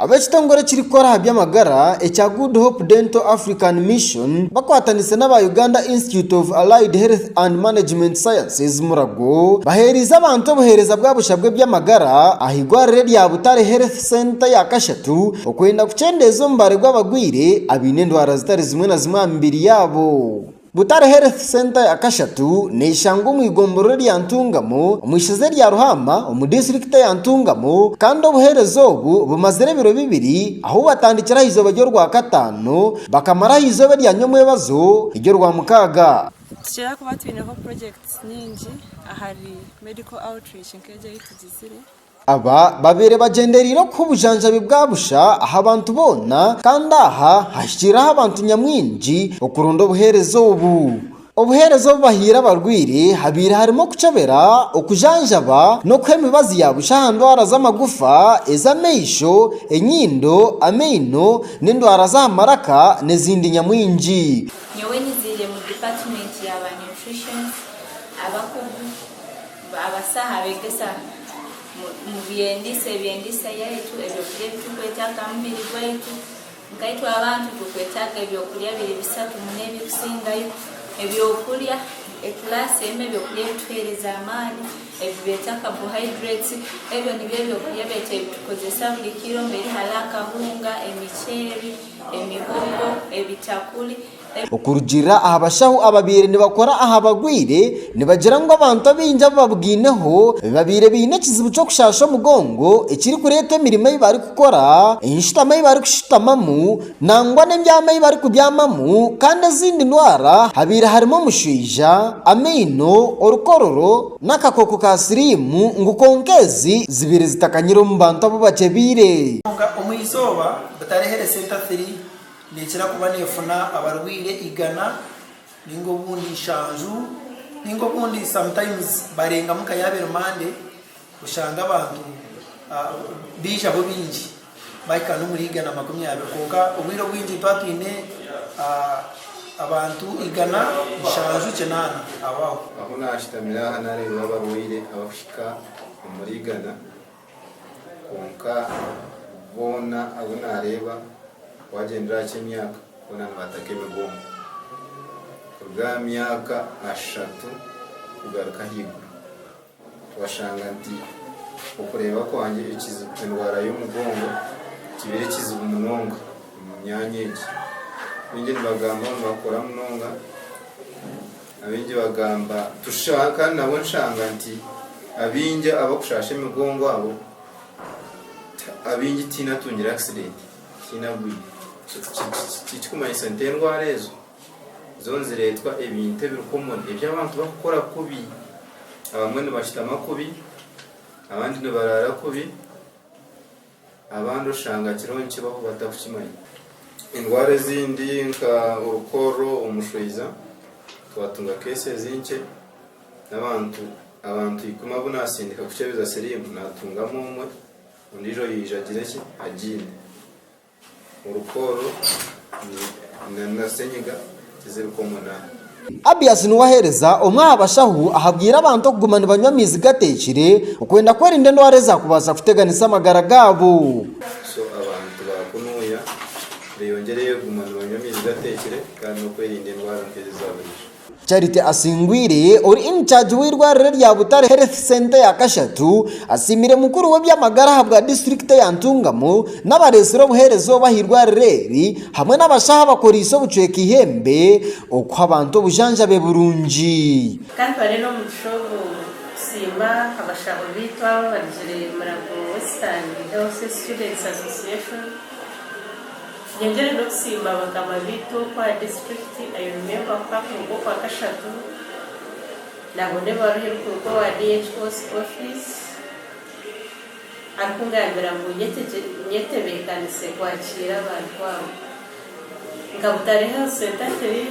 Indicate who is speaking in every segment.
Speaker 1: Ab'ekitongore ekirikukora aha by'amagara ekya Good Hope Dental African Mission bakwatanise n'aba Uganda Institute of Allied Health and Management Sciences Murago baheereize abantu obuheereza bwa busha bw'eby'amagara aha igwariro erya Butare Health Center ya Kashatu okwenda kukyendeeza omubare gw'abarwaire abaine endwara zitari zimwe na zimwe aha mibiri yaabo. Butare Health Centre ya Kashatu neeshangwa omu igomborero rya Ntungamo omu ishoza erya Ruhama omu disiturikiti eya Ntungamo kandi obuheereza obu bumazire ebiro bibiri ahu batandikire aha izooba ry'Orwakataano bakamara aha izooba erya Nyomwebazo ery'Orwamukaaga. Nitukira kuba
Speaker 2: twineho purojekiti nyingi ahari Medical Outreach nk'egi ei tugizire. Aba
Speaker 1: babaire bagyendereire okuha obujanjabi bwa busha aha bantu boona kandi aha hahikiirire aha bantu nyamwingi okuronda obuheereza obu. Obuheereza obu bahaire abarwaire habaire harimu okukyebera, okujanjaba n'okuha emibazi ya busha aha ndwara z'amagufa, ez'amaisho, enyindo, amaino n'endwara z'aha maraka n'ezindi nyamwingi. Nyowe niziire
Speaker 3: mu department ya ba nutrition, abakugu. Baabasa abeegesa mu by'endiisa, eby'endiisa yaitu, ebyokurya ebi turikwetaaga aha mubiri gwaitu. Nkaitwe abantu turikwetaaga ebyokurya biri bisatu muno ebikusingayo. Ebyokurya, ekiraasi emwe ebyokurya ebituheereza amaani ebi beeta carbohydrates. Ebyo nibyo ebyokurya beitu ebi tukozesa buri kiro mbwenu hariho akahunga, emiceeri, emihogo, ebitakuri. Okurugiirira
Speaker 1: aha bashaho ababaire nibakora aha barwaire, nibagira ngu abantu abaingi abu babwaineho babaire baine ekizibu ky'okushaasha omugongo ekirikureetwa emirimo ei barikukora, enshutama ei barikushutamamu nangwa n'ebyama ei barikubyamamu kandi ezindi ndwara habaire harimu omushwija, amaino, orukororo n'akakooko ka siriimu ngu kwonka ezi zibaire zitakanyire omu bantu abu bakyebeire. Kwonka omu izooba
Speaker 4: butareehere Centre 3, Neekira kuba neefuna abarwaire igana nainga obundi nshanju nainga obundi sometimes barengamu nka yaaba eri Monday oshange abantu baijaho baingi baahika n'omuri igana makumi abiri kwonka obwire obwingi nituba twine abantu igana, nshanju, kinaana aho aho. Ahu naashutamira
Speaker 5: aha naareebire abarwaire abarikuhika omuri igana Kwonka boona abu naareeba waagyendera aha ky'emyaka boona nibaataka emigongo kuruga aha myaka ashatu kugaruka ahaiguru. Twashanga nti okureeba kwangye ekizibu endwara y'omugongo kibaire kizibu munonga omu myanya egi. Baingi nibagamba ngu nibakora munonga. Abaingi bagamba tusha kandi nabwo nshanga nti abaingi abakushasha emigongo abo abaingi tihaine atungire accident tihaine agwire tikikumanyisa nti endwara ezo zo niziretwa ebintu ebiri common ebi abantu bakukora kubi abamwe nibashutama kubi abandi nibarara kubi Abandi oshanga kirungi kibaho batakukimanya. Endwara ezindi nka orukoorro omu mushwiza, twatunga keesezi nkye n'abantu abantu ikumi abu naasindika kukyebeza siriimu, naatungamu omwe, ondiijo yaija agira eki? Agiine. Orukooro na na senyiga tiziri komwe n'aha. Abias
Speaker 1: niwe aheereza omwe aha bashaho ahabwire abantu okuguma nibanywa amaizi gateekire okwenda kwerinda endwara ezaakubaasa kuteganisa amagara gaabo. So abantu
Speaker 5: ba kunuuya beyongyereyo kuguma nibanywa amaizi gateekire kandi n'okwerinda endwara nk'ezi za buriijo. Charity
Speaker 1: Asingwire ori in charge w'eirwariro rya Butare Health Centre ya Kashatu asiimire mukuru we eby'amagara ahabwa disiturikiti eya Ntungamo n'abareetsire obuheereza obu aha eirwariro eri hamwe n'abashaho abakoreise obucweka eihembe okuha abantu obujanjabi burungi. Ka ntware n'omugisha
Speaker 2: ogu kusiima abashaho baitu abo abarugire Murago Western Health Students Association, Ngyengyeire n'okusiima abakama baitu okwa disiturikiti, I remember ku hakuruga okwa kashatu nabona ebaruha erikuruga owa DHO's office arikungambira ngu nyetebekanise kwakiira abantu abo, nkabutareho sentafiri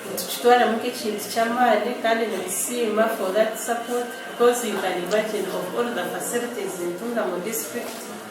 Speaker 2: nitukitwaramu nk'ekintu ky'amaani kandi nitusiima for that support because you can imagine of all the facilities nitunga mu disiturikiti.